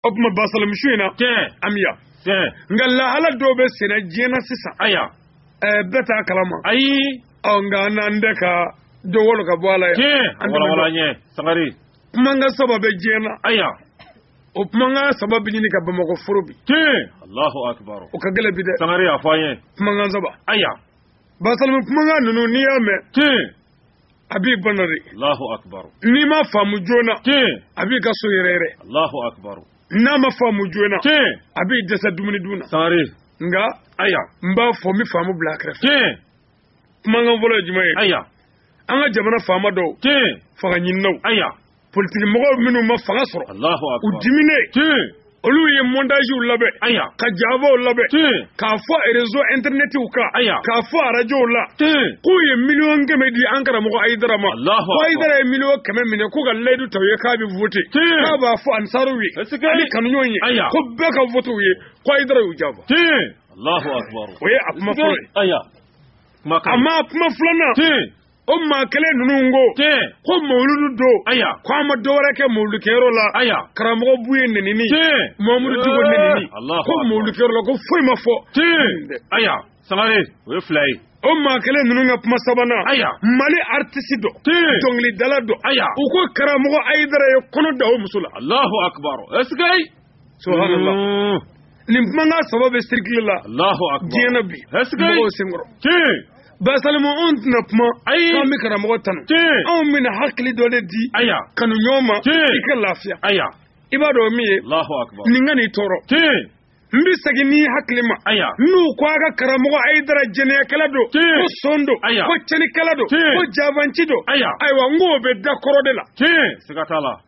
o tuma basalamu su in na an bɛ yan nka lahala dɔw bɛ senna diɲɛ na sisan aya bɛɛ t'a kalama ayi nka an n'an bɛɛ ka dɔ wolo ka bɔ a la yan an wala ɲɛ sangare kumakan saba bɛ diɲɛ na aya o kumakan saba bɛ ɲini ka bamakɔ foro bi alahu akibaru o ka gɛlɛn bi dɛ sangare a fɔ an ye kumakan saba aya basalamu kumakan ninnu n'i y'a mɛn a b'i bana dɛ Allahu akbar n'i m'a faamu joona tiɲɛ a b'i ka sɔn yɛrɛyɛrɛ Allahu akbar n'a ma faamu joona tiɲɛ a b'i dɛsɛ dumuni dun na sangare nka aya n b'a fɔ n bɛ faamu bila a kɛrɛfɛ tiɲɛ kumakan fɔlɔ ye jumɛn ye aya an ka jamana faama dɔw tiɲɛ fanga ɲininaw aya politiki mɔgɔw minnu ma fanga sɔrɔ u dimine olu ye montagew labɛn ka janfaw labɛn k'a fɔ rezo internetiw kan k'a fɔ arajow la k'u ye miliyɔn kɛmɛ di an karamɔgɔ ayidara ma ko ayidara ye miliyɔn kɛmɛ minɛ k'u ka layidu ta u ye k'a bɛ vote k'a b'a fɔ ansaruw ye ani kanuɲɔgɔn ye ko bɛɛ ka vote u ye ko ayidara y'u janfa o ye a kuma fɔlɔ ye amma kuma filanan o maa kelen ninnu ko tiɲɛ ko mawuludu don aya ko an ma dɔ wɛrɛ kɛ mawuludukɛyɔrɔ la aya karamɔgɔ buye nenini tiɲɛ mamudu diko nenini kɔ mawuludukɛyɔrɔ la ko foyi ma fɔ tiɲɛ aya sangare o ye fila ye o maa kelen ninnu ka kuma sabanan aya mali aritisi dɔ dɔnkilidala dɔ aya u ko karamɔgɔ ayidara ye kɔnɔ da o muso la alahu akibaru ɛsike subhanallah mm. nin kumakan saba bɛ sirikili la Allahu akbar diɲɛ na bi mɔgɔw senkɔrɔ tiɲɛ basalimu anw tɛna kuma k'an bɛ karamɔgɔ tanu anw bɛna hakili dɔ de di kanuɲɔgɔn ma i ka lafiya i b'a dɔn min ye nin kan'i tɔɔrɔ n bɛ segin n'i hakili ma n'u ko a ka karamɔgɔ ayidara jɛnɛyakɛla don ko son don ko cɛnikɛla don ko janfanci don ayiwa n k'o bɛ da kɔrɔ de la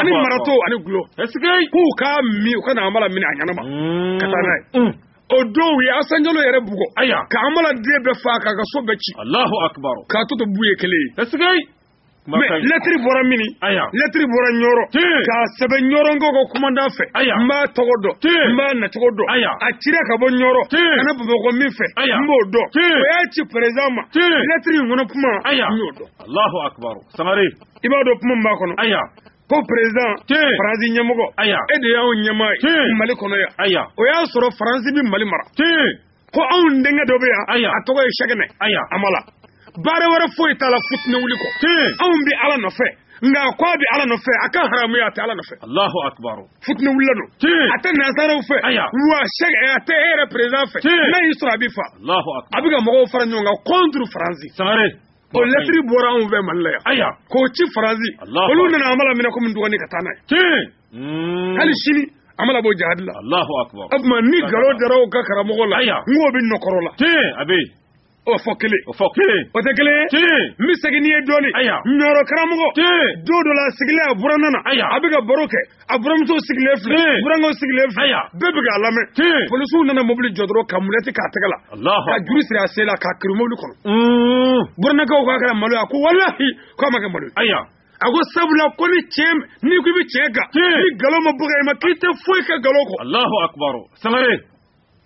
ani marato ani tulo k'u k'a min ka na amala minɛ a ɲɛnama ka taa n'a ye o don u ye asa jalo yɛrɛ bugɔ aya ka amala den bɛɛ faa k'a ka so bɛɛ ci alahu akibar k'a tɔ to buye kelen ye mɛ lɛtiri bɔra mini lɛtiri bɔra ɲɔrɔ k'a sɛbɛn ɲɔrɔnkaw ka kumandan fɛ n b'a tɔgɔ dɔn n b'a nacogo dɔn a cira ka bɔ ɲɔrɔ ka na bamakɔ min fɛ n b'o dɔn o y'a ci perezan ma lɛtiri in kɔnɔ kuma n y'o dɔn i b'a dɔn kuma min b'a kɔnɔ aya ko perezan faransi ɲɛmɔgɔ aya e de y'anw ɲɛmaa ye mali kɔnɔ yan aya o y'a sɔrɔ faransi bɛ mali mara ko anw denkɛ dɔ bɛ yan aya a tɔgɔ ye sɛkina aya amala baara wɛrɛ foyi t'a la fitinɛ wuli kɔ anw bɛ ala nɔfɛ nka a ko a bɛ ala nɔfɛ a ka haramu ye a tɛ ala nɔfɛ alahu akibaru fitinɛ wulila don a tɛ nansaraw fɛ wa sɛki a tɛ e yɛrɛ perezan fɛ n'a y'i sɔrɔ a b'i faa a bɛ ka mɔgɔw fara ɲɔgɔn kan kɔnturu faransi sangare o lɛtiri bɔra anw fɛ mali la yan aya k'o ci faransi olu nana amala minɛ komi ntuganin ka taa n'a ye hmm. hali sini amala bɔ jihadi la alahu akubar o tuma ni nkalon dara aw ka karamɔgɔ la aya n k'o bɛ nɔkɔrɔ la a bɛ o fɔ kelen o tɛ kelen ye n bɛ segin n'i ye dɔɔnin aya ɲɔrɔ karamɔgɔ don dɔ la a sigilen a buranna na aya a bɛ ka baro kɛ a buramuso sigilen filɛ Tiɲɛ. burankaw sigilen filɛ Aya. bɛɛ bɛ k'a lamɛn Tiɲɛ. polisiw nana mobili jɔ dɔrɔn ka mulɛti k'a tɛgɛ la Alahu ka juru siri a sen la k'a kɛrun mobili kɔnɔ Mm. burannakaw k'a kɛra malo ye a ko walahi k'a ma kɛ malo ye Aya. a ko sabula ko ni tiɲɛ n'i ko i bɛ tiɲɛ kan Tiɲɛ. ni nkalon ma bɔ ka i ma k'i tɛ foyi kɛ nkalon kɔ Allahu akbar. Sangare.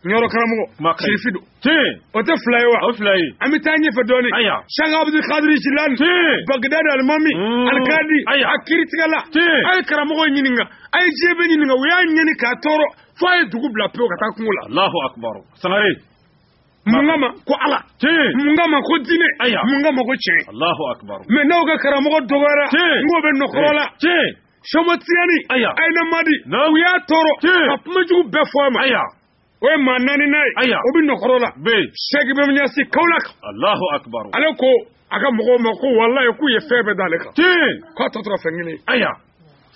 Ɲɔrɔ karamɔgɔ kuma ka ɲi. sirifi don tiɲɛ o tɛ fila ye wa o fila ye an bɛ taa ɲɛfɛ dɔɔnin Aya. sɛki abudul kadiri jilani tiɲɛ bagdad alimami Mm. alikadi Aya. a kiritigɛla Tiɲɛ. a ye karamɔgɔ ɲininka a ye diɲɛ bɛɛ ɲininka u y'a ɲɛni k'a tɔɔrɔ fo a ye dugu bila pewu ka taa kungo la alahu akubaru sangare mun kama ko ala tiɲɛ mun kama ko diinɛ Aya. mun kama ko tiɲɛ alahu akubaru mɛ n'aw ka karamɔgɔ dɔgɔyara Tiɲɛ. n k'o bɛ nɔkɔrɔ la tiɲɛ sɔmɔtiyani aya ayina madi u y'a tɔɔrɔ ka kumajugu bɛɛ fɔ a ma aya o ye maa naaninan ye aya o bɛ nɔkɔrɔ la bɛ sɛki bayi ɲasi kawolaki alahu akibaru ale ko a ka mɔgɔw ma ko walayi k'u ye fɛn bɛɛ d'ale kan tiɲɛ k'a tɔ tora fɛn kelen aya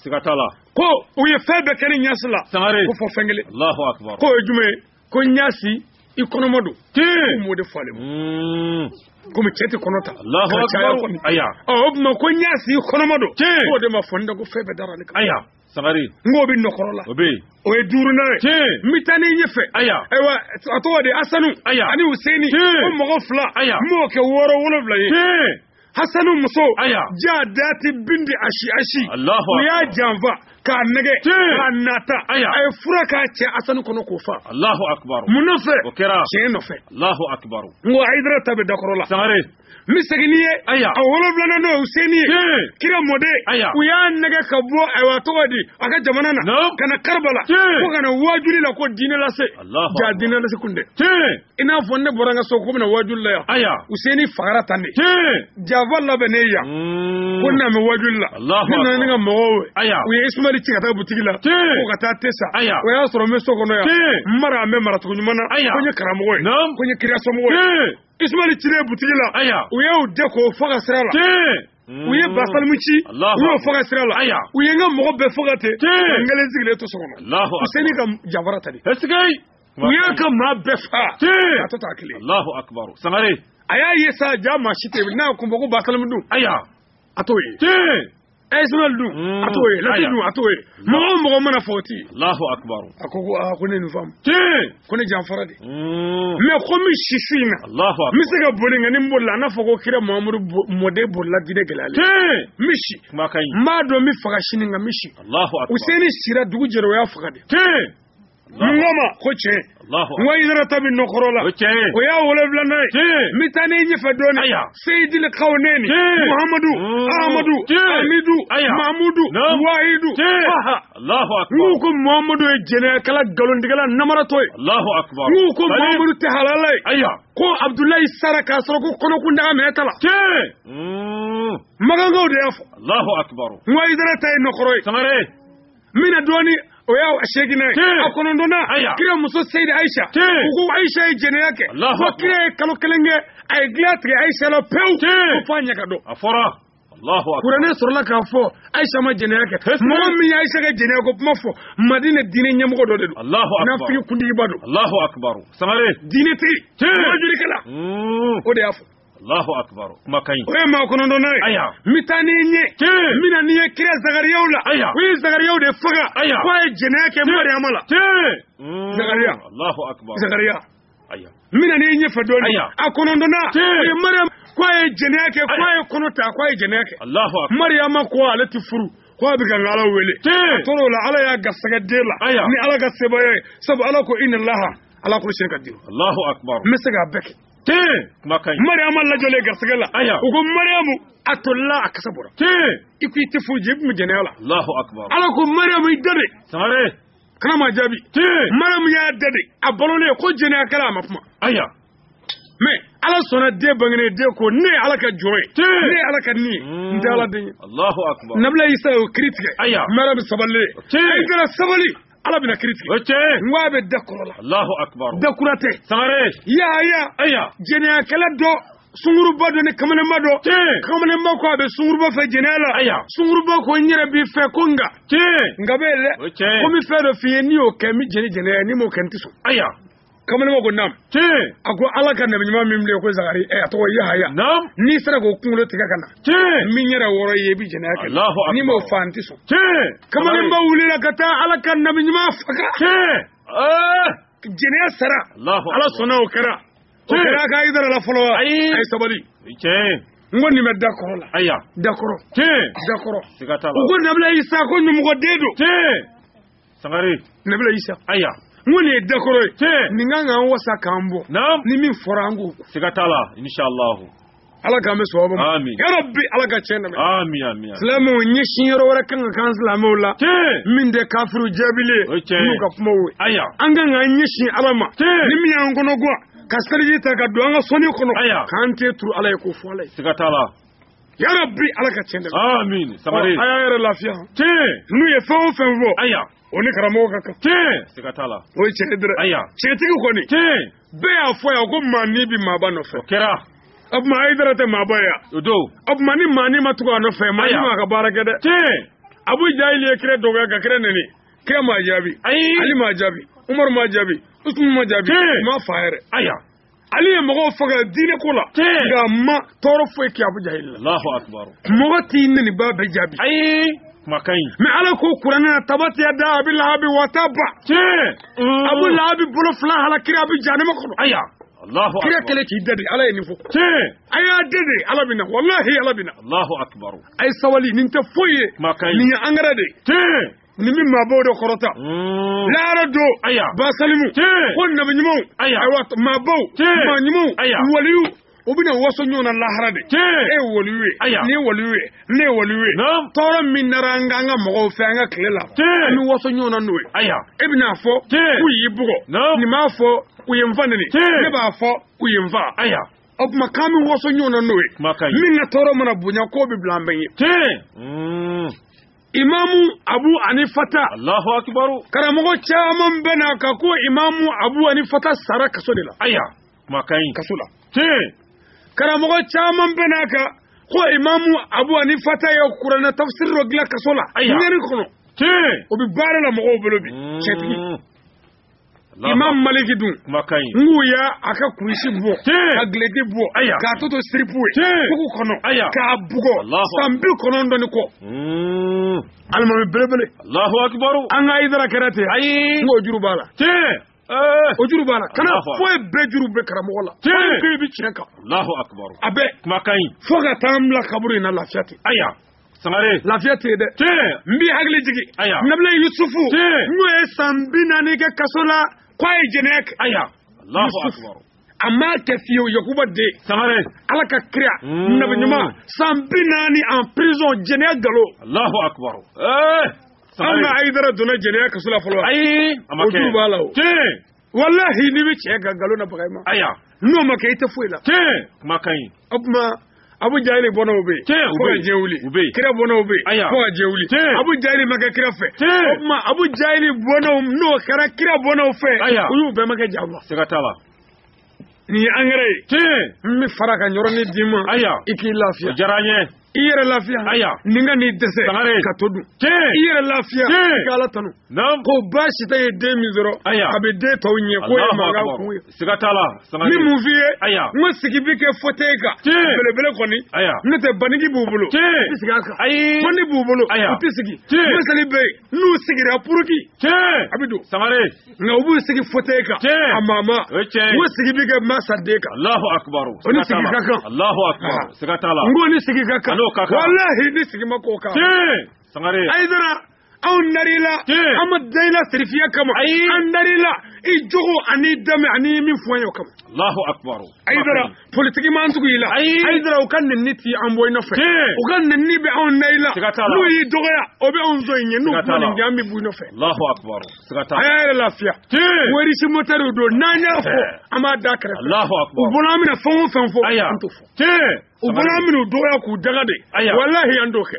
siga t'a la ko u ye fɛn bɛɛ kɛ ne ɲasi la sangare ko fo fɛn kelen alahu akibaru k'o ye jumɛn ye ko ɲasi i kɔnɔma don k'u m'o de fɔ ale ma hmm. komi cɛ tɛ kɔnɔ ta ka caya kɔni o tuma ko ɲasi i kɔnɔma don k'o de ma fɔ n da ko fɛn bɛɛ dara ale kan sangare n k'o bɛ nɔkɔrɔ la o bɛ yen o ye duurunan ye tiɲɛ n bɛ taa n'i ye ɲɛfɛ aya ayiwa a tɔgɔ de asanu aya ani useni tiɲɛ o mɔgɔ fila aya n b'o kɛ wɔɔrɔ wolonwula ye tiɲɛ hasanu muso Aya. ja dati bindi ashi ashi Allahu u y'a janfa k'a nɛgɛ Ti. k'a nata Aya. a ye fura k'a cɛ hasanu kɔnɔ k'o fa Allahu akbar. mun nɔfɛ O kɛra. tiɲɛ nɔfɛ Allahu akbar. n ko ayidara ta bɛ dakɔrɔ la Sangare. n bɛ segin n'i ye Aya. a wolonwulanan n'o ye useni ye Ti. kira mɔden Aya. u y'a nɛgɛ ka bɔ ayiwa tɔgɔ di a ka jamana na Naam. ka na karibala Ti. ko ka na waajuli la ko diinɛ lase Allahu akbar. jaa diinɛ lase kun tɛ Tiɲɛ. i n'a fɔ ne bɔra n ka so ko n bɛ na wajuli la yan aya useni fagara tan de tiɲɛ janfa labɛnna yan ko ne bɛ wajuli la Allahu ne nana ni n ka mɔgɔw ye aya u ye isumali ci ka taa butigi la tiɲɛ ko ka taa te san aya o y'a sɔrɔ n bɛ so kɔnɔ yan tiɲɛ n mara an bɛ maracogo ɲuman na Aya. ko n ye karamɔgɔ ye naam ko n ye kirasomɔgɔ ye tiɲɛ isumali cilen butigi la aya u y'o dɛn k'o faga sira la tiɲɛ u ye basalimu ci Allahu u y'o faga sira la aya u ye n ka mɔgɔ bɛɛ faga ten Tiɲɛ. ka n kelen sigilen to so kɔnɔ Allahu useni ka janfara tan de est-ce que u y'a ka maa bɛɛ fa a tora kelen alahu akubaru sangare a y'a ye sa jama si tɛ n'a kun bɔ ko basalamu dun aya a t'o ye isimayili dun hmm. a t'o ye lati dun a t'o ye mɔgɔ o mɔgɔ mana fɔ o ti alahu akubaru a ko ne nin faamu ko ne janfara de hmm. mɛ ko n bɛ si su in na alahu akubaru n bɛ se ka boli nka ni n bolila a na fɔ ko kira mahamadu mɔden bolila diinɛ gɛlɛyalen n bɛ si n b'a dɔn n bɛ faga sini nka n bɛ si alahu akubaru useni sira dugu jɛra o y'a faga de n ko a ma ko tiɲɛ n ko hayidara ta bɛ nɔkɔrɔ la o y'a wolonwulanan ye n bɛ taa n'i ye ɲɛfɛ dɔɔnin seyidili kawnɛni muhamadu amadu hamidu mamudu wahidu n k'u ko muhamadu ye jɛnɛyakɛla nkalontigɛla namaratɔ ye n k'u ko muhamadu tɛ halala ye ko abudulayi sara k'a sɔrɔ ko kɔnɔ kun tɛ aminata la makankaw de y'a fɔ n ko hayidara ta ye nɔkɔrɔ ye n bɛ na dɔɔni o y'a seginnan ye a kɔnɔntɔnnan kira muso seyidi ayisa u ko ayisa ye jɛnɛya kɛ fo kira ye kalo kelen kɛ a ye dilan tigɛ ayisa la pewu ko f'a ɲɛ ka dɔn a fɔra kuranɛ sɔrɔla k'a fɔ ayisa ma jɛnɛya kɛ mɔgɔ min ye ayisa ka jɛnɛya ko kuma fɔ madina diinɛ ɲɛmɔgɔ dɔ de don naafigi kuntigiba don diinɛtigi wajurikɛla o de y'a fɔ Allahu akbar kuma kaɲi o ye maa kɔnɔntɔnna ye aya n bɛ taa n'i ye ɲɛ n bɛna n'i ye kira zakariyaw la aya o ye zakariyaw de faga aya k'a ye jɛnɛya kɛ mariama la hmm. zakariya Allahu akbar zakariya aya n bɛna n'i ye ɲɛfɛ dɔɔni aya a kɔnɔntɔnna o ye mariama k'a ye jɛnɛya kɛ k'a ye kɔnɔ ta k'a ye jɛnɛya kɛ Allahu akbar mariama ko ale tɛ furu ko a bɛ kan ka ala wele a tora o la ala y'a garisɛgɛ den la ni ala ka sebaaya ye sabu ala ko inna laha ala kuli sayin kadiru Allahu akbar n bɛ se k'a bɛɛ kɛ mariama lajɔlen garisɛgɛla u ko mariamu a tolila a kasa bɔra i ko i tɛ furu jaa i tun bɛ jɛnɛya la ala ko mariamu i dade kana maa jaabi mariamu y'a dade a balolen ko jɛnɛyakɛla a ma kuma mɛ ala sɔnna den bangene den ko ne ye ala ka jɔn ye ne ye ala ka ni ye n tɛ ala den ye nabila isa y'o kiri tigɛ mariamu sabalilen i kɛra sabali ala bɛna kiri tigɛ o cɛ n ko a bɛ da kɔrɔ la alahu akubar da kura tɛ sangare yaaya aya jɛnɛyakɛla dɔ sunguruba dɔ ni kamalenba dɔ kamalenba ko a bɛ sunguruba fɛ jɛnɛya la aya sunguruba ko n yɛrɛ b'i fɛ ko nka nka b'a la ko n bɛ fɛn dɔ f'i ye n'i y'o kɛ n bɛ jɛn ni jɛnɛya n'i m'o kɛ n tɛ sɔn aya kamalen ko nam a ko ala ka nabi ɲuman min bilen ko zakari eh, a tɔgɔ yahaya n'i sera k'o kunkolo tigɛ ka na n bɛ n yɛrɛ wɔɔrɔ i ye i bɛ jɛnɛya kɛ n'i m'o fa n tɛ sɔn kamalenba wulila ka taa ala ka nabi ɲuman faga eh! jɛnɛya sara ala sɔnna o kɛra o kɛra hayidara la fɔlɔ wa a ye sabali n ko nin bɛ da kɔrɔ la ayiwa da kɔrɔ da kɔrɔ u ko nabila isa ko ɲamɔgɔden don sangare nabila isa aya n ko nin ye dakɔrɔ ye tiɲɛ nin kan k'an wasa k'an bɔ naam ni min fɔra an k'o kɛ siga t'a la inshallahu ala k'an bɛ sɔgɔba ma Amin. ya rabbi ala ka tiɲɛ dɛmɛ ami ami ami. silamɛw ɲɛsin yɔrɔ wɛrɛ kan ka k'an silamɛw la tiɲɛ min tɛ kafiru jaabili O ye ye tiɲɛ ye. n'u ka kumaw ye aya an kan k'an ɲɛsin ala ma Tiɲɛ. ni min y'an kɔnɔ gwan ka seliji ta ka don an ka soni kɔnɔ Aya. k'an ten turu ala ye k'o fɔ ala ye siga t'a la Ya rabbi ala ka cɛn sabali a y'a yɛrɛ lafiya n'u ye fɛn o fɛn fɔ aya o ni karamɔgɔ ka kan siga t'a la o ye cɛ dɛ aya cɛtigi kɔni bɛɛ y'a fɔ yan ko maani bɛ maaba nɔfɛ kɛra o tuma ayidara tɛ maaba yan o don o tuma ni maani ma tugu a nɔfɛ maani m'a ka baara kɛ dɛ tiɲɛ abu jahil ye kira dɔgɔya ka kira nɛni kira m'a jaabi ayi ali m'a jaabi umaru m'a jaabi usumani m'a jaabi ma fa yɛrɛ aya ali ye mɔgɔw faga diinɛ ko la nka a ma tɔɔrɔ foyi kɛ abu jahil la mɔgɔ t'i nenibaa bɛɛ jaabi ayi makayi mɛ ala ko kuranɛ na tabati yada abi lahabi wa taba mm. abu lahabi bolo fila halakira a bɛ jahanama kɔnɔ aya kira kɛlen k'i da de ala ye nin fɔ a y'a da de ala bɛ na walahi ala bɛ na a ye sabali nin tɛ foyi ye nin ye angɛrɛ de ye nin bɛ maabaw de kɔrɔta mm. laara don aya basalimu ko nabi ɲumanw aya ayiwa maabaw maa ɲumanw aya waliyuw u bɛna waso ɲɔgɔn na lahara dɛ e ye waliyu ye aya ne ye waliyu ye ne ye waliyu ye tɔɔrɔ min nara an kan an ka mɔgɔw fɛ an ka tile la an bɛ waso ɲɔgɔn na n'o ye aya e bɛna fɔ k'u y'i bugɔ nin b'a fɔ k'u ye n fa neni ne b'a fɔ k'u ye n fa aya o tuma k'an bɛ waso ɲɔgɔn na n'o ye min ka tɔɔrɔ mana bonya k'o bɛ bila an bɛɛ ɲɛ imamu abu anifata allahu akibaru karamɔgɔ caman bɛnn'a kan ko imamu abu anifata sara kaso de la aya makayi kaso la tiɲɛ karamɔgɔ caman bɛnn'a kan ko imamu abu anifata ye kuranɛ tafsiri dɔ dilan kaso la ɲani kɔnɔ tiɲɛ o bɛ baara la mɔgɔw bolo bi cɛtigi mm. imam maliki dun n k'u y'a ka kulusi bɔ k'a gileki bɔ k'a tɔ to siripu ye kugu kɔnɔ k'a bugɔ san bi kɔnɔntɔn ni kɔ hmm. alimami belebele an ka ayidara kɛra ten ayi n k'o juru b'a la Eh. o juru b'a la kana fɔ i ye bɛɛ juru bɛ karamɔgɔ la k'i bɛ tiɲɛ kan a bɛ makayi fo ka taa n bila kaburu in na lafiya ten aya sangare lafiya tɛ yen dɛ tiɲɛ n b'i hakili jigin aya nabila yusufu tiɲɛ n'o ye san bi naani kɛ kaso la k'a ye jɛnɛya kɛ aya alahu akubaru a m'a kɛ fiyewu yakuba den sangare ala ka kira mm. nabi ɲuman san bi naani en prison jɛnɛya galon alahu akubaru eh, an ka ayidara donna jɛnɛya kaso la fɔlɔ ayi a ma kɛ o juru b'a la o tiɲɛ walahi n'i bɛ cɛ ka nkalon na baga i ma aya n'o ma kɛ i tɛ foyi la tiɲɛ kuma ka ɲi o tuma abu jahili bɔnnaw bɛ yen Tiɲɛ, u bɛ yen. fo ka diɲɛ wuli U bɛ yen. kira bɔnnaw bɛ yen Aya. fo ka diɲɛ wuli Tiɲɛ. abu jahili ma kɛ kira fɛ Tiɲɛ. o tuma abu jahili bɔnnaw n'o kɛra kira bɔnnaw fɛ Aya. u y'u bɛɛ ma kɛ jago siga t'a la Nin ye engrais ye. Tiɲɛ. N bɛ fara ka yɔrɔnin d'i ma. Aya. I k'i lafiya. O diyara n ye. I yɛrɛ lafiya. Aya. Nin kan'i dɛsɛ. Sangare. Ka to dun. Tiɲɛ. I yɛrɛ lafiya. Tiɲɛ. I ka Ala tanu. Naamu. Ko Basitan ye den min sɔrɔ. Aya. A bɛ den tɔw ɲɛ. K'o ye mankan kun ye. Siga t'a la. Sangare. N bɛ mun f'i ye. Aya. N ko sigi bɛ kɛ fauteuil kan. Tiɲɛ. Belebele kɔni. Aya. N'o tɛ banigi b'u bolo. Tiɲɛ. U tɛ sigi a kan. Ayi. Bannin b'u bolo. Aya. U tɛ sigi. Tiɲɛ. Miseli bɛ yen. N'u sigira puruki. Tiɲɛ. A bɛ don. Sangare. nka u b'u sigi fote kan amma n ko sigi bɛ kɛ masa de kan alahu akubaru o ni sigi ka kan alahu akubaru siga t'a la n k'o ni sigi ka kan walahi ni sigi ma k'o kan sangare ayidara anw dar'i la an ma da i la sirifiya kama an dar'i la i jogo ani danbe ani min fɔ an ye o kama alahu akubaru ayidara politiki m'an tugu i la ayidara u ka nenni t'an bɔ i nɔfɛ u ka nenni bɛ anw da i la n'u y'i dɔgɔya o bɛ anw sɔn i ɲɛ n'u kuma nin k'an bɛ bɔ i nɔfɛ a y'a yɛrɛ lafiya werisi motɛriw don n'an y'a fɔ an b'a da kɛrɛfɛ u bolo an bɛna fɛn o fɛn fɔ an t'o fɔ u bolo an bɛna u dɔgɔya k'u danga de walahi an t'o kɛ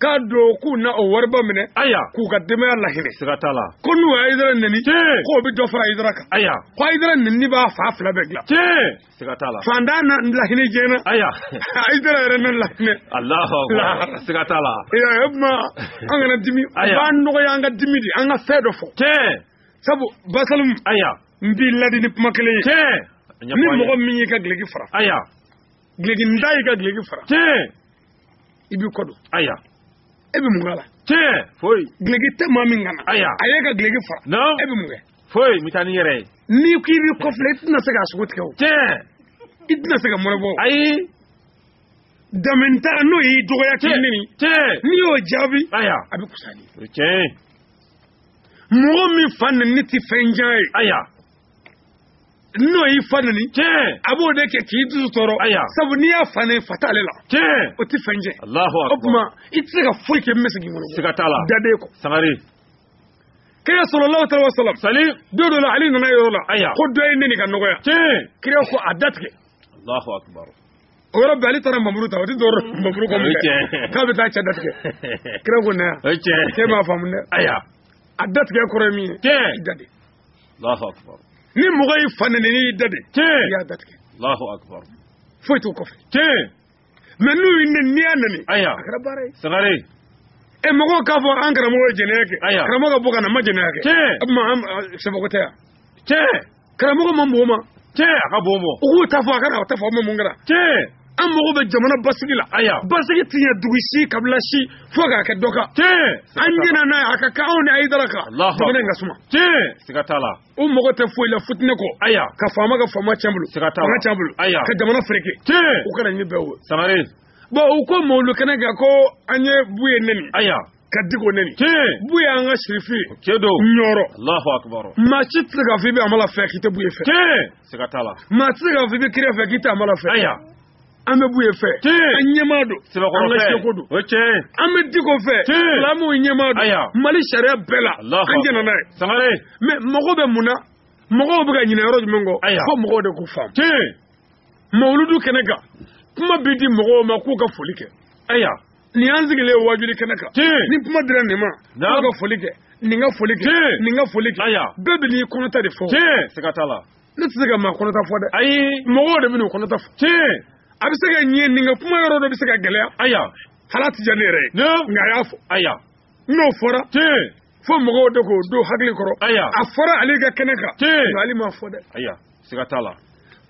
k'a don k'u na o wariba minɛ aya k'u ka denbaya lahinɛ siga t'a la ko n'u ye ayidara neni k'o bɛ dɔ fara ayidara kan aya ko ayidara neni b'a fan fila bɛɛ dilan siga t'a la fantan na lahinɛ jɛna aya ayidara yɛrɛ na lahinɛ alahu siga t'a la e y'a ye o tuma an kana dimi o b'an dɔgɔya an ka dimi de an ka fɛn dɔ fɔ sabu basalimu aya n b'i ladi ni kuma kelen ye ni mɔgɔ min y'i ka gileki fara aya gilekintan y'i ka gileki fara i b'i kɔ don aya e bɛ mun k'a la tiɲɛ foyi gileki tɛ maa min kan na aya a y'e ka gileki fara non e bɛ mun kɛ foyi n bɛ taa ni n yɛrɛ ye n'i ko i b'i kɔfilɛ i tɛna se k'a sogo tigɛ o tiɲɛ i tɛna se ka mɔnɛ bɔ ayi danbentan n'o y'i dɔgɔya k'i neni tiɲɛ n'i y'o jaabi aya a bɛ kusa ni o ye tiɲɛ ye mɔgɔ min fa neni tɛ fɛn y'a ɲɛ aya n'o y'i fa neni a b'o de kɛ k'i dusu tɔɔrɔ sabu n'i y'a fa neni fa t'ale la o tɛ fɛn ye o tuma i tɛ se ka foyi kɛ misi k'i bolo siga t'a la daden kɔ sangare kira sallallahu alaihi wasallam sali don dɔ la ali nana yɔrɔ la ko dɔ ye n neni ka n dɔgɔya kira ko a datigɛ Allahu akbar o yɔrɔ bɛɛ ali taara npanmuru ta o tɛ dɔrɔn npanmuru kɔ min k'a bɛ taa cɛ datigɛ kira ko na yan cɛ m'a faamu dɛ a datigɛ kɔrɔ ye min ye jate Allahu akbar ni mɔgɔ y'i fa nɛni n'i y'i da de tiɲɛ i y'a da tigɛ Allahu akbar foyi t'o kɔfɛ tiɲɛ mais n'u y'i nɛni n'i y'a nɛni aya a kɛra baara ye Sangare e mɔgɔw k'a fɔ an karamɔgɔ ye jɛnɛya kɛ aya karamɔgɔ ka bɔ ka na ma jɛnɛya kɛ tiɲɛ o tuma an sɛbɛko tɛ yan tiɲɛ karamɔgɔ ma mɔgɔ ma tiɲɛ a ka bon mɔgɔw k'u ta fɔ a ka na u ta fɔ aw ma mun kɛra tiɲɛ an mago bɛ jamana basigi la aya basigi tɛ ɲɛ dugu si kabila si fo k'a kɛ dɔ kan tiɲɛ an jɛna n'a ye a ka kan anw ni ayidara kan Alahu jamana in ka suma tiɲɛ siga t'a la u mago tɛ foyi la futinɛ kɔ aya ka faama ka faama tiɲɛ a bolo siga t'a la fanga tiɲɛ a bolo aya ka jamana fereke tiɲɛ u ka laɲini bɛɛ wo sangare bon u ko mawulu kɛnɛ kan ko an ye buye nɛni aya ka diko nɛni buye an ka sirifikɛ don ɲɔrɔ allahu akbar maa si tɛ se k'a fɔ i bɛ amala fɛ k'i tɛ buye fɛ siga t'a la maa tɛ se k'a fɔ i bɛ kira fɛ k'i tɛ amala fɛ aya an bɛ buye fɛ an ɲɛmaa don an ka seku don an bɛ diko fɛ silamɛw ɲɛmaa don mali sariya bɛɛ la an jɛna n'a ye sangare mais mɔgɔ bɛ mun na mɔgɔw bɛ ka ɲinɛ yɔrɔ jumɛn kɔ fo mɔgɔw de k'u faamu mawuludu kɛnɛ kan kuma bɛ di mɔgɔw ma k'u ka foli kɛ aya nin y'an sigilen ye waajuli kɛnɛ kan Tiɲɛ. ni kuma dira nin ma Naamu. a ka foli kɛ nin ka foli kɛ Tiɲɛ. nin ka foli kɛ Aya. bɛɛ bɛ n'i kɔnɔta de fɔ tiɲɛ siga t'a la ne tɛ se ka maa kɔnɔta fɔ dɛ ayi mɔgɔw de bɛ n'u kɔnɔta fɔ tiɲɛ a bɛ se ka ɲɛ nin ka kuma yɔrɔ dɔ bɛ se ka gɛlɛya aya hali a tɛ diya ne yɛrɛ ye ne nka a y'a fɔ aya n'o fɔra tiɲɛ fo mɔgɔw de k'o don hakili kɔrɔ aya a fɔra ale ka kɛnɛ kan ale m'a fɔ dɛ aya siga t'a la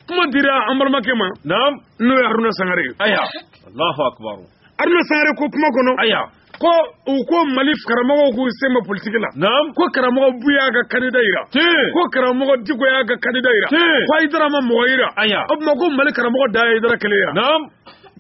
kuma dira an balimakɛ ma naam n'o ye haruna sangare ye aya allahu akbar haruna sangare ko kuma kɔnɔ aya ko u ko mali karamɔgɔw k'u sen bɛ politiki la naam ko karamɔgɔ buye y'a ka kandida yira ko karamɔgɔ diko y'a ka kandida yira ko ayidara ma mɔgɔ yira aya o tuma ko mali karamɔgɔ dan ye ayidara kelen ye naam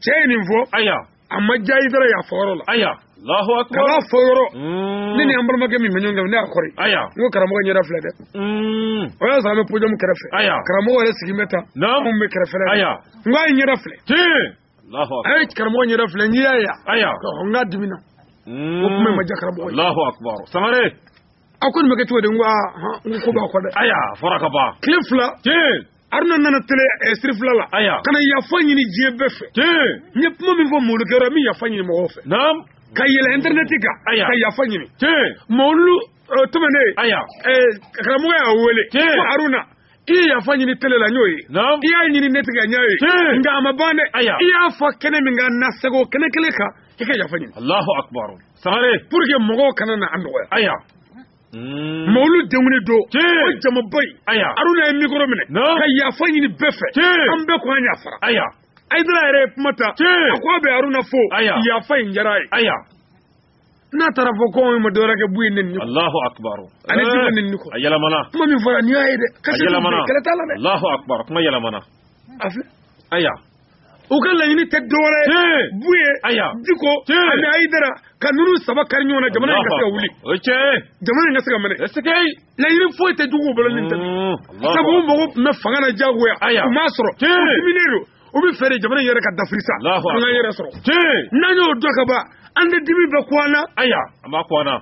cɛ ye nin fɔ aya a ma diya ayidara y'a fɔ yɔrɔ la aya Allahu akbar k'a fɔ yɔrɔ mm. ne ni an balimakɛ min bɛ ɲɔgɔn kan ne y'a kɔri aya n ko karamɔgɔ ɲɛda filɛ dɛ mm. o y'a sɔrɔ an bɛ podium kɛrɛfɛ aya karamɔgɔ yɛrɛ sigi bɛ tan naam anw bɛ kɛrɛfɛ la aya n k'a ye ɲɛda filɛ tiɲɛ Allahu akbar a ye karamɔgɔ ɲɛda filɛ n k'i y'a ye aya n k'a dimina mm. o kuma in ma diya karamɔgɔ ye Allahu akbar Sangare a ko nin bɛ kɛ cogo di n ko aa n ko ko b'a kɔ dɛ aya a fɔra ka ban tile fila tiɲɛ aruna nana tele eh, sirifila la aya ka na yafa ɲini diɲɛ bɛɛ fɛ n ye kuma min fɔ mawulu kɛyɔrɔ n bɛ yafa ɲini mɔgɔw fɛ naam ka yɛlɛ intɛrɛnɛti kan aya ka yafa ɲini mawulu eh, tɛmɛnen aya eh, karamɔgɔ y'a wele ko aruna i ye yafa ɲini tele la n y'o ye i y'a ɲini nɛti kan n y'a ye nka a ma ban dɛ i y'a fɔ kɛnɛ min kan na segin o kɛnɛ kelen kan i ka yafa ɲini alahu akbar sangare pour que mɔgɔw kana na an dɔgɔya aya Mm. mawulu denkundi don o jamaba in aruna ye mikoro minɛ ka yafa ɲini bɛɛ fɛ an bɛɛ ko an yafara ayidara yɛrɛ ye kuma ta a ko a bɛ aruna fo yafa in diyara a ye n'a taara fɔ ko anw ma dɔwɛrɛ kɛ buye nɛni Allahu akbar ani diko nɛni kɔ a yɛlɛmana kuma min fɔra nin y'a ye dɛ kasi yɛlɛmana kɛlɛ t'a la dɛ Allahu akbar kuma yɛlɛmana a filɛ aya u ka laɲini tɛ dɔwɛrɛ buye diko ani ayidara ka ninnu saba kari ɲɔgɔn na jamana in ka se ka wuli jamana in ka se ka mɛnɛ laɲini foyi tɛ juguw bolo nin tɛ mm, sabu u mago tun bɛ fanga na diyagoya u m'a sɔrɔ u diminen don u b'a fɛ de jamana in yɛrɛ ka dafiri sa an ka yɛrɛ sɔrɔ n'an y'o dɔn ka ban an tɛ dimi bɛ ko an na an b'a ko an na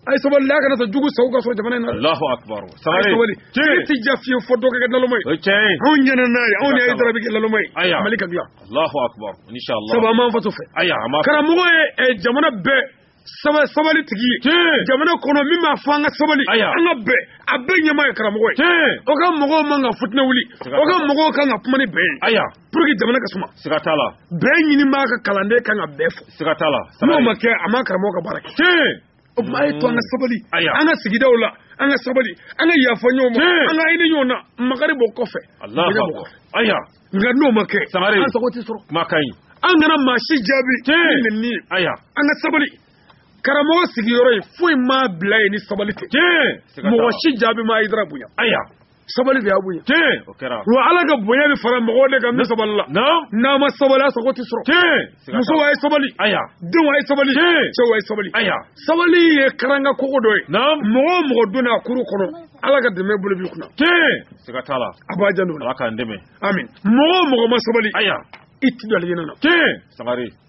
a ye sabali a kana sɔn jugu sago ka sɔrɔ jamana in na Allahu akbar sabali sabali sigi tɛ diya fiyewu fo dɔ ka kɛ naloma ye o cɛ ye anw ɲɛna n'a ye anw ni ayidara bɛ kɛ naloma ye aya mali ka dilan Allahu akbar inshallah sabu an b'an faso fɛ aya an b'a karamɔgɔ ye eh, jamana bɛɛ saba sabali tigi ye Tiɲɛ. jamana kɔnɔ min b'a fɔ an ka sabali Aya. an ka bɛn a bɛɛ ɲɛmaa ye karamɔgɔ ye Tiɲɛ. o ka mɔgɔw man ka fitinɛ wuli Siga t'a la. o ka mɔgɔw kan ka kuma ni bɛɛ ye aya pour que jamana ka suma siga t'a la bɛɛ ɲini b'a ka kalanden kan ka bɛɛ fo siga t'a la n'o ma kɛ a ma karamɔgɔ ka baara kɛ tiɲɛ o tuma a ye to an ka mm. sabali an ka sigidaw la an ka sabali an ka yafa ɲɔgɔn ma an ka hinɛ ɲɔgɔn na makari b'o kɔfɛ bonya b'o kɔfɛ aya nka n'o ma kɛ an sago tɛ sɔrɔ kuma ka ɲi an kana maa si jaabi ni nɛni ye aya an ka sabali karamɔgɔ sigiyɔrɔ ye foyi m'a bila yen ni sabali tɛ mɔgɔ si jaabi ma ayidara bonya aya sabali de y'a bonya tiɲɛ o kɛra wa ala ka bonya bɛ fara mɔgɔw de kan min sabalila n'a ma sabali a sago tɛ sɔrɔ tiɲɛ musow a ye sabali aya denw a ye sabali tiɲɛ cɛw a ye sabali aya sabali ye karanga kogo dɔ ye mɔgɔ o mɔgɔ donna a kuru kɔnɔ ala ka dɛmɛ bolo b'i kunna tiɲɛ siga t'a la a b'a janto o la ala k'an dɛmɛ amin mɔgɔ o mɔgɔ ma sabali aya i ti don alijinɛ na tiɲɛ sangare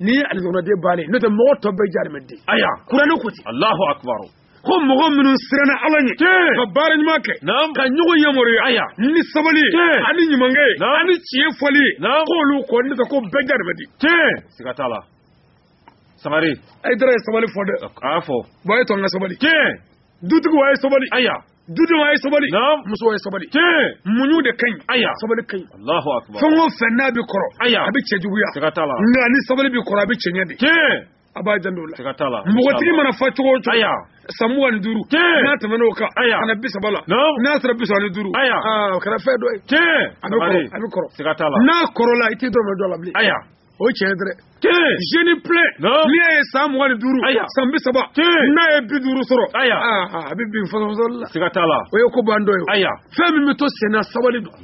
ni ye alijinɛden bannen n'o tɛ mɔgɔ tɔ bɛɛ jahanamaden aya kuranɛ ko ten Allahu akbar ko mɔgɔ minnu siranna ala ɲɛ ka baara ɲuman kɛ ka ɲɔgɔn yamaruya aya ni sabali ani ɲumankɛ ani tiɲɛ fɔli k'olu kɔ n'o tɛ ko bɛɛ jahanamaden siga t'a la sangare ayidara ye sabali fɔ dɛ a y'a fɔ bɔn a ye to an ka sabali dutigiw a ye sabali aya dudenw a ye sabali na'am musow a ye sabali tiɲɛ muɲu de ka ɲi aya sabali ka ɲi Allahu akbar fɛn o fɛn n'a bɛ kɔrɔ Aya. a bɛ cɛjuguya siga t'a la nka ni sabali bɛ kɔrɔ a bɛ cɛɲɛ de tiɲɛ a b'a janto o la siga t'a la npogotigi mana fa cogo o cogo aya san mugan ni duuru Tiɲɛ. n'a tɛmɛn'o kan Aya. ka na bi saba la Naamu. n'a sera bi saba ni duuru Aya. aa, o kɛra fɛn dɔ ye tiɲɛ a bɛ kɔrɔ a bɛ kɔrɔ siga t'a la n'a kɔrɔla i tɛ dɔrɔmɛ dɔ la bilen aya o ye tiɲɛ dɛrɛ jeune plein n'i y'a ye san mugan ni duuru san bi saba n'a ye bi duuru sɔrɔ a bɛ bin fasɔsɔli la siga t'a la o ye ko bantɔ ye fɛn min bɛ to senna sabali don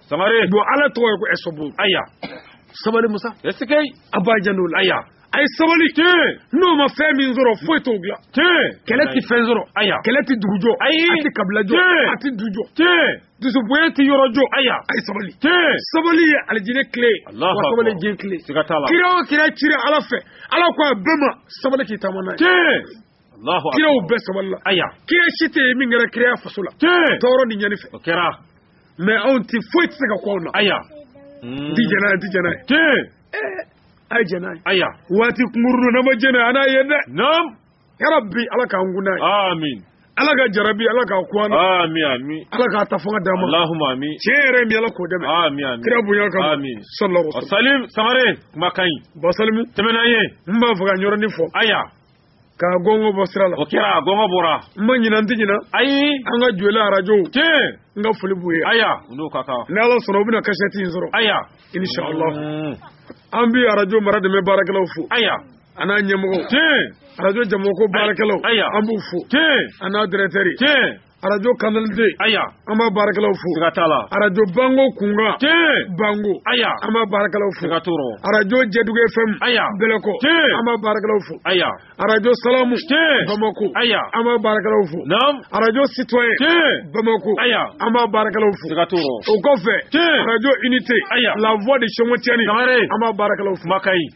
samare don ala tɔgɔ ye ko ɛsɔbu aya sabali masakɛ a b'a janto o la aya a ye sabali n'o ma fɛn min sɔrɔ foyi t'o dilan kɛlɛ tɛ fɛn sɔrɔ kɛlɛ tɛ dugu jɔ a tɛ kabila jɔ a tɛ du jɔ dusu bonya tɛ yɔrɔ jɔ aya a ye sabali sabali ye alijinɛ kile wa sabali ye diɲɛ kile kira o kira cira ala fɛ ala ko a bɛɛ ma sabali k'i taama n'a ye kiraw bɛɛ sabalila aya kira si tɛ yen min kɛra kira y'a faso la tɔɔrɔ ni ɲɛni fɛ o kɛra mais anw tɛ foyi tɛ se ka kɛ anw na aya n ti jɛn'a ye n ti jɛn'a ye a ye jɛn'a ye aya waati kunkurunnin n'an ma jɛn'a ye an n'a ye dɛ ya rabi ala k'an kun n'a ye amin ala ka jarabi ala k'a kun an na amin amin ala k'a ta fanga d'an ma alahuma amin tiɲɛ yɛrɛ min ala k'o dɛmɛ amin amin kira bonya kama amin sallallahu alaihi wasallam salim samare kuma ka ɲi basalimu tɛmɛna ye n b'a fɛ ka yɔrɔnin fɔ aya ka gɔngɔ bɔ sira la o kɛra gɔngɔ bɔra n ma ɲinɛ n tɛ ɲinɛ ayi an ka joyila arajow tiɲɛ n ka foli b'u ye aya u n'o ka kan ni ala sɔnna u bɛna kasɛti in sɔrɔ aya inshallah an bi arajo maradɛmɛ baarakɛlaw fo aya a n'a ɲɛmɔgɔ arajo jamako baarakɛlaw an b'u fo a n'a directeur arajo canal d aya an b'a baarakɛlaw fo ka t'a la arajo bango kunkan ten bango aya an b'a baarakɛlaw fo ka tɔɔrɔ arajo jɛdugu fm aya bɛlɛkɔ ten an b'a baarakɛlaw fo aya arajo salamu ten bamako aya an b'a baarakɛlaw fo naam arajo citoyen ten bamako aya an b'a baarakɛlaw fo ka tɔɔrɔ o kɔfɛ ten arajo unité aya la voix de siomotiani an b'a baarakɛlaw fo makayi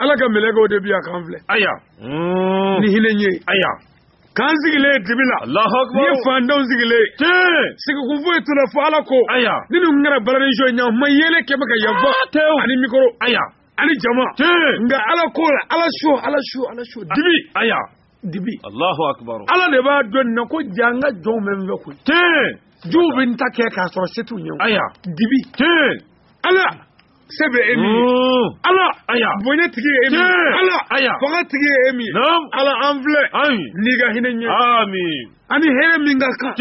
ala ka mɛlɛkɛw de bi yan k'an filɛ aya ni hinɛ ye aya k'an sigilen ye dibi la alahu akbar ni fandenw sigilen tiɲɛ sigikun foyi t'u la fo ala ko aya ni nin tun kɛra balani show ye ɲan ma yeelen kɛ bɛ ka yan fa tew ani mikoro aya ani jama tiɲɛ nka ala ko la ala so ala so ala so dibi aya dibi alahu akbar ala de b'a dɔn nin na ko ja n ka jɔnw bɛ n fɛ koyi tiɲɛ j'u bɛ n ta kɛ k'a sɔrɔ se t'u ɲɛ o. aya dibi tiɲɛ ala se bɛ e min ye ala aya bonya tigi ye e min ye ala aya fanga tigi ye e min ye ala an filɛ n'i ka hinɛ ɲɛ amin ani hɛrɛ min ka kan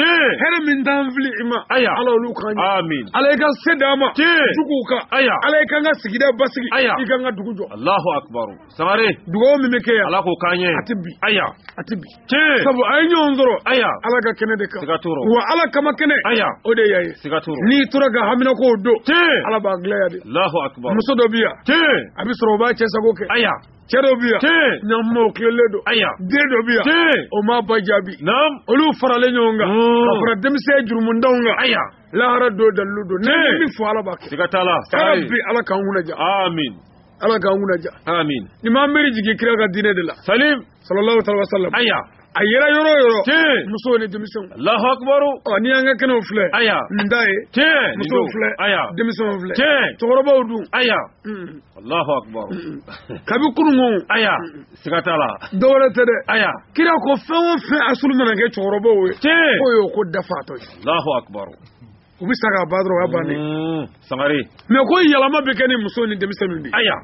hɛrɛ min t'an fili i ma aya ala olu kan amin ala i ka se d'an ma juguw kan aya ala i k'an ka sigida basigi i k'an ka dugu jɔ alahu akibaru samare dugawu min bɛ kɛ yan ala k'o k'an ye a tɛ bi aya a tɛ bi tiɲɛ sabu a ye ɲɔgɔn sɔrɔ aya ala ka kɛnɛ de kan siga t'o rɔ wa ala kama kɛnɛ aya o de y'a ye siga t'o rɔ n'i tora ka haminankow don tiɲɛ ala b'a gilan yan de alahu akubar muso dɔ bi yan tiɲɛ a bɛ sɔrɔ o b'a cɛ sago kɛ aya cɛ dɔ bi yan tiɲɛ ɲuman o tilelen don aya den dɔ bi yan tiɲɛ o m'a ba jaabi naam olu faralen ɲɔgɔn kan Mm. ka fara denmisɛn jurumundanw kan aya lahara don dalilu don ne Tiɲɛ. min fɔ ala b'a kɛ siga t'a la ala sabari bi ala k'an kunnaja amin ala k'an kunnadiya amin ni ma miiri jigin kira ka diinɛ de la salim sallallahu alaihi wa sallam aya a yera yɔrɔ o yɔrɔ tiɲɛ musow ni denmisɛnw alahu akibaru ɔ nin y'an ka kɛnɛw filɛ aya nin t'a ye tiɲɛ musow filɛ aya denmisɛnw filɛ tiɲɛ cɛkɔrɔbaw dun aya alahu akibaru kabi kununko aya siga t'a la dɔwɛrɛ tɛ dɛ aya kira ko fɛn o fɛn asulu mana kɛ cɛkɔrɔbaw ye tiɲɛ k'o y'o ko dafatɔ ye alahu akibaru u bɛ sa ka ban dɔrɔn o y'a bannen mm, sangare mais ko yɛlɛma bɛ kɛ ni musow ni denmisɛnninw de ye aya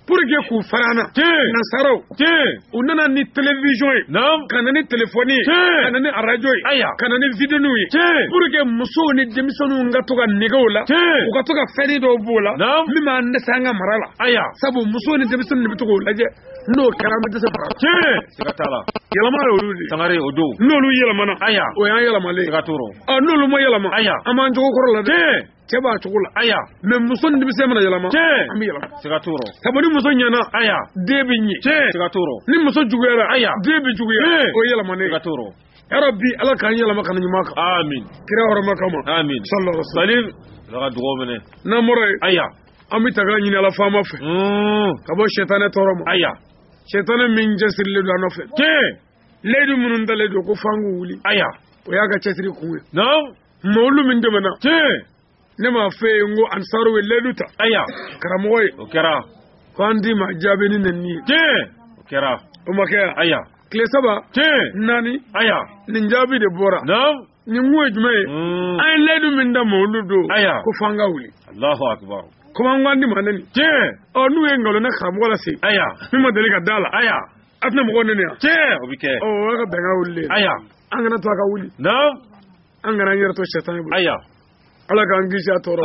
pour que k'u fara an na Tiɲɛ. nasaraw tiɲɛ u nana ni télévision ye naam ka na ni téléphone ye Tiɲɛ. ka na ni radio ye Aya. ka na ni vidéoninw ye Tiɲɛ. pour que musow ni denmisɛnninw ka to ka nege o la Tiɲɛ. u ka to ka fɛn dɔw b'o la Naam. min b'an dɛsɛ an ka mara la aya sabu musow ni denmisɛnninw de bɛ to k'o lajɛ n'o kɛra an bɛ dɛsɛ fara tiɲɛ siga t'a la yɛlɛma ye olu de sangare o don n'olu yɛlɛmana aya o y'an yɛlɛmalen siga t'o rɔ ɔ n'olu ma yɛlɛma aya an b'an jogo kɔrɔ la dɛ tiɲɛ cɛ b'a cogo la aya mɛ muso ni denmisɛn mana yɛlɛma tiɲɛ an bɛ yɛlɛma siga t'o rɔ sabu ni muso ɲɛna aya den bɛ ɲɛ tiɲɛ siga t'o rɔ ni muso juguyara aya den bɛ juguya o ye yɛlɛmanen siga t'o rɔ ya rabi ala k'an yɛlɛma ka na ɲuman kan amin kira hɔrɔma kama amin sallallahu alaihi wasallam salim ala ka dugaw minɛ n'an bɔra yen aya an bɛ taga ɲini ala faama fɛ hmm. ka bɔ sɛtanɛ tɔɔrɔ ma aya sɛtanɛ min cɛsirilen don an nɔfɛ tiɲɛ leyidu minnu talen don ko f'an k'u wuli aya o y'a ka cɛsiri kun ye naamu mawuludu min tɛmɛna tiɲɛ ne m'a f'a ye n ko ansaru ye leyidu ta aya karamɔgɔ ye o kɛra ko an tɛ ma jaabi ni nɛni ye tiɲɛ o kɛra o ma kɛ yan aya tile saba tiɲɛ naani aya nin jaabi de bɔra naamu nin kun ye jumɛn ye mm. an ye layidu min ta mawuludu ko fo an k'a wuli komi an ko an tɛ ma neni ɔ n'u ye nkalon da karamɔgɔ la sa min ma deli ka d'a la a tɛna mɔgɔw neni yan o y'a ka bɛnkan wulilen an kana to a ka wuli an kana an yɛrɛ to sɛtanɛ bolo ala k'an kisi a tɔɔrɔ